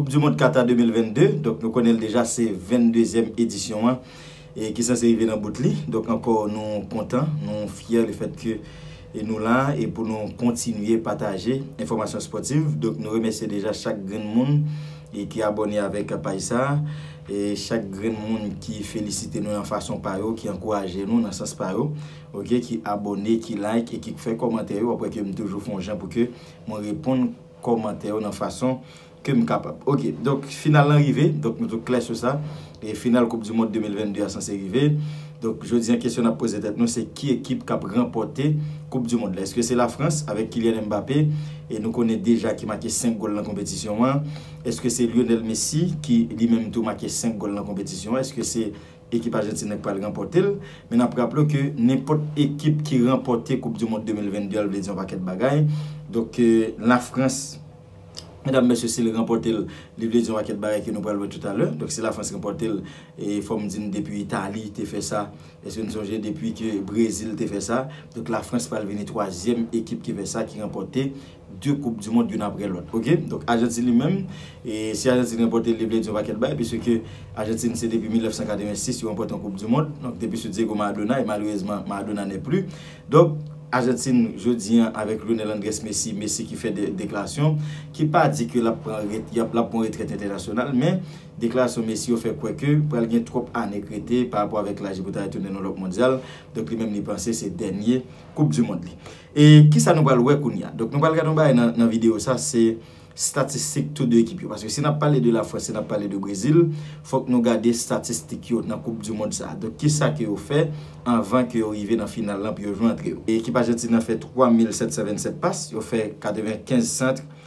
Koup di mond Kata 2022, donk nou konnen l deja se 22 zièm edisyon an e ki sanse rive nan bout li, donk ankò nou kontan, nou fyè le fèt ke nou la e pou nou kontinye pataje enfòmasyon spòtiv, donk nou remèsye deja chak grenn moun ki abòne avèk paj sa e chak grenn moun ki felisite nou nan fason pa yo, ki ankouraje nou nan sans pa yo ok, ki abòne, ki like e ki fè kòmantè yo, wap wè ke m toujou fon jan pou ke mwen reponn. kòmantè yo nan fason ke m kapab. Ok, donk final lan rive, donk nou tout klè sou sa, e final koup du mond 2022 a sanse rive, donk jodi an kesyon n ap poze tèt nou se ki ekip k ap ranpòte koup du mond la? Eske se la Frans avèk Kylian Mbappé e nou konnen deja ki make 5 gòl nan konpetisyon an? Eske se Lionel Messi ki li menm tou make 5 gòl nan konpetisyon an? Eske se Ekip Ajantin nan ki pral ranpòte l, men n ap raple w ke nenpòt ekip ki ranpòte koup di mond 2022 a l vle di yon pakèt bagay, donk Lafrans, medam mesye si l ranpòte l, li vle di yon pakèt bagay ke nou pral wè toutalè, donk si Lafrans ranpòte l, e fò m di n depi Itali te fè sa, èske n sonje depi ke Brezil te fè sa, donk Lafrans pral vini twazyèm ekip ki fè sa, ki ranpòte. 2 koup du mond youn aprè lòt ok donk ajantin li menm e si ajantin ranpòte li vle di yon pakèt bagay piske ke ajantin se depi 1986 yo ranpòte yon koup du mond donk depi sou Diego Maradona e malerezman Maradona n'est plus donk ajantin jodi an avèk Lionel Andrès Messi Messi ki fè de deklarasyon ki pa di ke lap pran ret yap lap pran retrèt entènasyonal men deklarasyon Messi yo fè kwè ke pral gen twòp ane k rete pa rapò avèk laj li pou ta retounen nan lòp mondyal donk li menm li panse se dènye koup du mond li. E kisa nou pral wè kounye a? Donk nou pral gade yon bagay nan videyo sa se statistik tou 2 ekip yo. Paske si nap pale de la Frans, si nap pale de Brezil, fòk nou gade statistik yo nan koup di mond sa. Donk kisa ke yo fè anvan ke yo rive nan final lan pou yo jwe antre yo. Ekip Ajantin nan fè 3727 pas, yo fè 95 centre,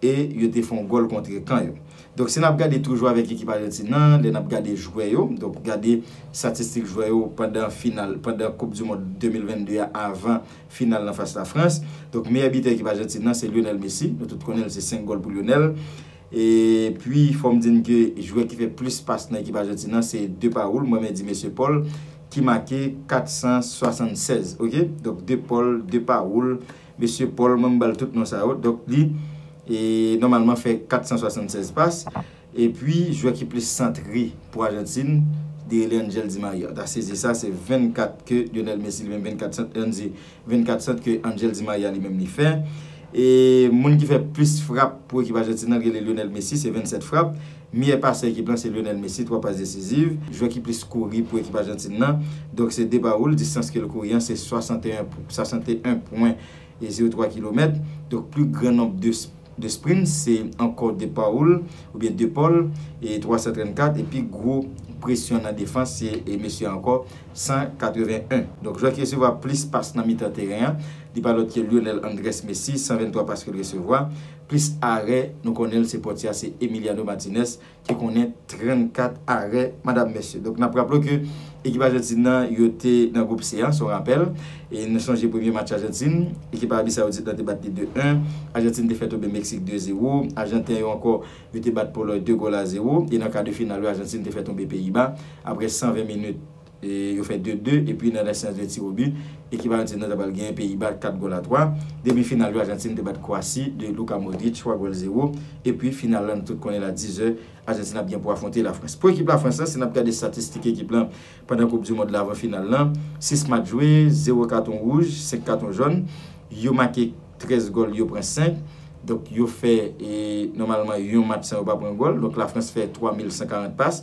E yo te fon gòl kontre kan yo. Donk si nap gade toujou avèk ekip Ajantin nan, lè nap gade jwè yo, donk gade statistik jwè yo pandan final, pandan koup du mond 2022 a avan final lan fas Lafrans. Donk meyè bitè ekip Ajantin nan se Lionel Messi, nou tout konnen l se 5 gòl pou Lionel. E pwi fòm di n ke jwè ki fè plis pas nan ekip Ajantin nan se Depaul, mwen menm di Mesye Paul ki make 476 ok. Donk Depaul, Depaul. Mesye Paul mwen m bal tout non sa yo donk li nòmalman fè 476 pas epi jwè ki plis santre pou Ajantin Deyele Angel Di Maria ta sezi sa se 24 ke Lionel Messi li menm 24 sant li an di 24 sant ke Angel Di Maria li menm li fè e moun ki fè plis frap pou ekip Ajantin nan rele Lionel Messi se 27 frap. Meyè pasè ekip lan se Lionel Messi, 3 pas desiziv. Jwè ki plis kouri pou ekip Ajantin nan, donk se Depaul, distans ke l kouri an se 61 pwen, 61 pwen e 03 kilomèt. Donk pli gran nonb de de sprints se ankò Depaul oubyen Depaul e 334 e pi gwo presyon nan defans se e mesye a ankò 181. Donk jwè ki resevwa plis pas nan mitan teren an, li pa lòt ke Lionel Andrés Messi, 123 pas ke l resevwa. Plis arè nou konnenl se Portia se Emiliano Martinez ki konnen 34 arè madam mesye. Donk nap raple w ke ekip Ajantin nan yo te nan gwoup C a, se yon rapèl. E nou sonje premye match Ajantin, ekip Arabi Sawoudit lan te bat li 2, 1, Ajantin te fè tonbe Meksik 2, 0, Ajanten yo ankò yo te bat Polòy 2 gòl a 0 e nan ka de final yo Ajantin te fè tonbe Peyiba aprè 120 minit. Yo fè 2, 2 epi nan lasyans de tiro bi, ekip Ajantin nan ta pral genyen Peyiba 4 gòl a 3. Demi final yo Ajantin te bat Kwasi de Luka Modric 3 gòl 0. Epi final la nou tout konnen l a 10 è, Ajantin ap gen pou afwonte Lafrans. Pou ekip Lafrans lan, si n ap gade statistik ekip lan pandan koup di mond la avan final lan, 6 match jwe, 0 katon wouj, 5 katon jòn, yo make 13 gòl, yo pran 5. Donk yo fè nòmalman yon match san yo pa pran gòl. Donk Lafrans fè 3140 pas.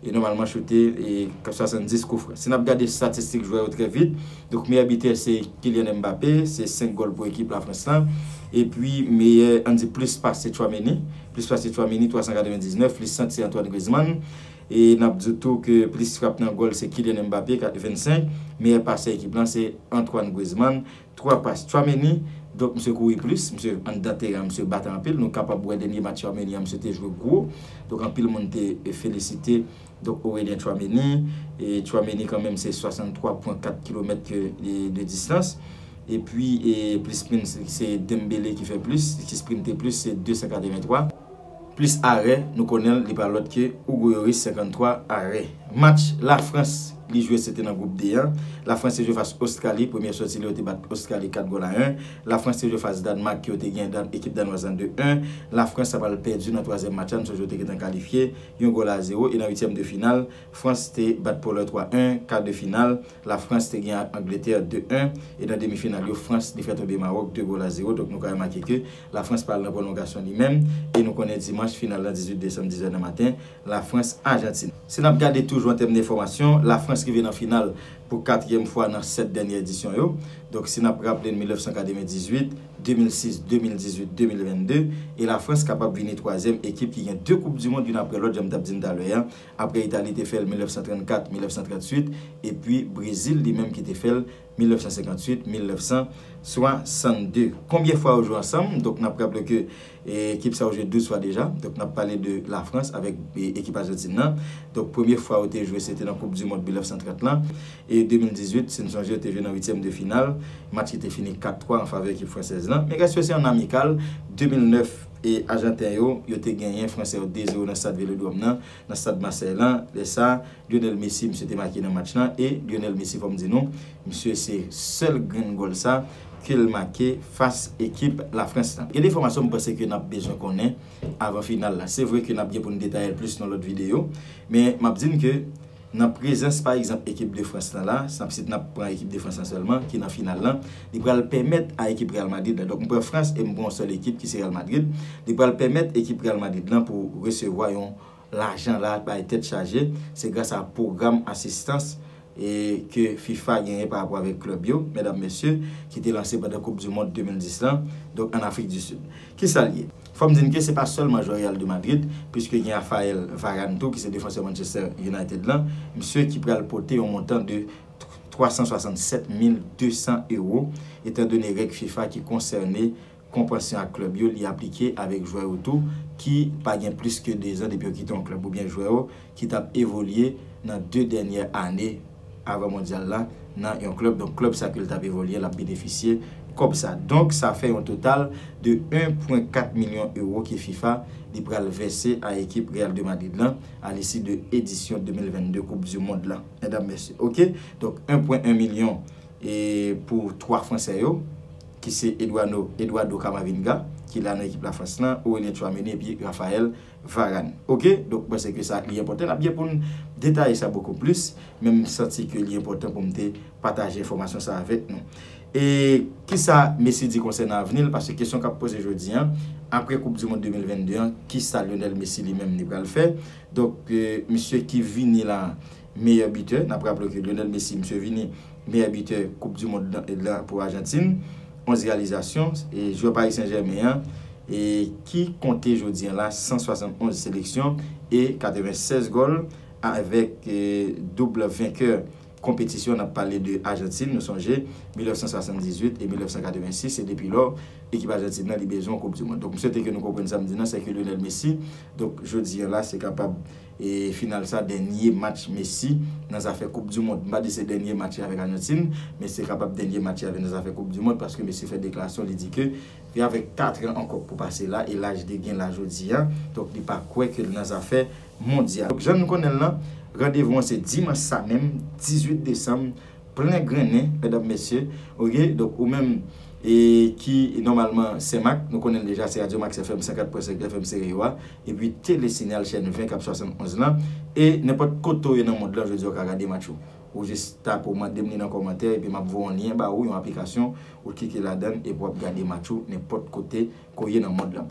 e nòmalman choute 70 koufran. Si n ap gade statistik jwè yo trè vit, donk meyè bitè se Kylian Mbappé, se 5 gòl pou ekip Lafrans lan, epi meyè an di plis pas se Tchouaméni, plis pas se Tchouaméni 399, plis sant se Antoine Griezmann, e n ap di w tou ke plis frap nan gòl se Kylian Mbappé 25, meyè pasè ekip lan se Antoine Griezmann. 3 pas Tchouameni, donk misye kouri plis, misye anndan teren an misye bat anpil, nou kapab wè dènye match Tchouameni an misye te jwe gwo, donk anpil moun te felisite donk Aurelien Tchouameni, e Tchouameni kanmenm se 63 pwen 4 kilomèt ke de distans, epi plis sprint se Dembele ki fè plis, ki sprinte plis se 283. plis arè nou konnenl li pa lòt ke Hugo Yoris 53 arè. Match la Frans li jwe se te nan group D an, la Frans te jwe fas Ostrali, premyè sòti li yo te bat Ostrali 4 gòl a 1, la Frans te jwe fas Dànmak ke yo te gen dan ekip Danwaz lan 2 1, la Frans ta pral pèdi nan twazyèm match la m sonje yo te gentan kalifye, yon gòl a 0 e nan uityèm de final Frans te bat Polòy 3 1, ka de final la Frans te gen ak Angletè 2 1 e nan demi final yo Frans li fè tonbe Mawòk 2 gòl a 0 donk nou ka remake ke La Frans pral nan pwolongasyon li menm e nou konnen dimanch final la 18 desanm 10 è nan maten, La Frans, Ajantin. Si n ap gade toujou an tèm de fòmasyon, La Frans rive nan final pou katriyèm fwa nan 7 dènyè edisyon yo. Donk si n ap raple n 1998, 2006, 2018, 2022 e La Frans kapab vini twazyèm ekip ki gen 2 koup di mond youn aprè lòt jan m t ap di n talè a aprè Itali te fè l 1934, 1938 epi Brezil li menm ki te fè l 1958, 1962. Konbyen fwa yo jwe ansanm? Donk nap raple ke ekip sa yo jwe 12 fwa deja. Donk nap pale de la Frans avèk ekip Ajantin nan. Donk premye fwa yo te jwe se te nan koup di mond 1930 lan. E 2018 si n sonje yo te jwe nan uityèm de final. Match ki te fini 4, 3 an favè ekip fransèz lan. Men rès yo se an amikal. 2009 e ajanten yo, yo te genyen fransè yo 2, 0 nan stad velodrom nan, nan stad masèy lan. Lè sa. Lionel Messi misye te make nan match lan e Lionel Messi fòm di nou misye se sèl grenn gòl sa kel make fas ekip la France lan. Gen de enfòmasyon m panse ke nap bezwen konnen avan final la. Se vre ke nap gen pou n detayel plis nan lòt videyo men map di n ke nan prezans pa egzanp ekip de France lan la, nap si nap pran ekip de France lan sèlman ki nan final lan, li pral pèmèt a ekip Real Madrid la, donk m pran France e m pran yon sèl ekip ki se Real Madrid, li pral pèmèt ekip Real Madrid lan pou resevwa yon. Lajan la bay tèt chaje, se gras a pwogram asistans ke fifa genyen pa rapò avèk klèb yo, medam mesye, ki te lanse pandan koup du mond 2010 lan, donk an Afrik du Sud. Kisa l ye? Fò m di n ke se pa sèlman jwè Real de Madrid, puiske gen Raphael Varane tou ki se defansè Manchester United lan, msye ki pral pote yon montan de 367 mil 200 ewo, etan done règ fifa ki konsène Konvansyon ak klèb yo li aplike avèk jwè yo tou ki pa gen plis ke dezan depi yo kite yon klèb oubyen jwè yo ki t ap evolye nan de dènyè ane avan mondyal la nan yon klèb donk klèb sa ke l t ap evolye l ap benefisye kòb sa donk sa fè yon total de 1 pwen 4 milyon ewo ke fifa li pral vèse a ekip Real de Madrid lan a lisi de edisyon 2022 koup di mond la mèdam mèsye ok donk 1 pwen 1 milyon e pou 3 fransè yo. ki se Eduano Eduardo Camavinga ki la nan ekip Lafrans lan, Aurelien Tchouaméni epi Raphaël Varane ok donk mwen panse ke sa li enpòtan nap gen poun detaye sa bokou plis men m santi ke li enpòtan poum te pataje enfòmasyon sa avèk nou e kisa Messi di konsènan avni l paske kesyon kap poze jodi an aprè koup du mond 2022 an kisa Lionel Messi li menm li pral fè donk misye ki vini la. meyè bitè, nap raple w ke Lionel Messi misye vini meyè bitè koup du mond lan pou Ajantin, 11 reyalizasyon, e jwè Paris Saint Germain an e ki konte jodi an la 171 seleksyon e 96 gòl avèk double venkè konpetisyon nap pale de Ajantin, nou sonje 1978 e 1986 se depi lò ekip Ajantin lan li bezwen yon koup du mond. Donk m swete ke nou konprann sa m di nan sè ke Lionel Messi donk jodi an la se kapab. E final sa dènye match Messi nan zafè koup du mond. M pa di se dènye match li avèk Ajantin, men se kapab dènye match li avèk nan zafè koup du mond paske mesye fè deklarasyon li di ke li avèk 4 tran ankò pou pase la e laj li gen la jodi a, donk li pa kwè ke l nan zafè mondyal. Donk jan nou konnen l lan, randevou an se dimanch sa menm 18 desanm plen grennen medam mesye ok, donk ou menm e ki nòmalman Senmak, nou konnen l deja se radyo Max FM 104.5 FM Stereo a, epi tele sinyal chèn 20 kap 71 lan e nenpòt kote ou ye nan mond lan jodi a ou ka gade match yo ou jis tape ou mandem li nan kòmantè epi map voye yon lyen ba ou yon aplikasyon ou klike ladann epi wap gade match ou nenpòt kote ke ou ye nan mond lan.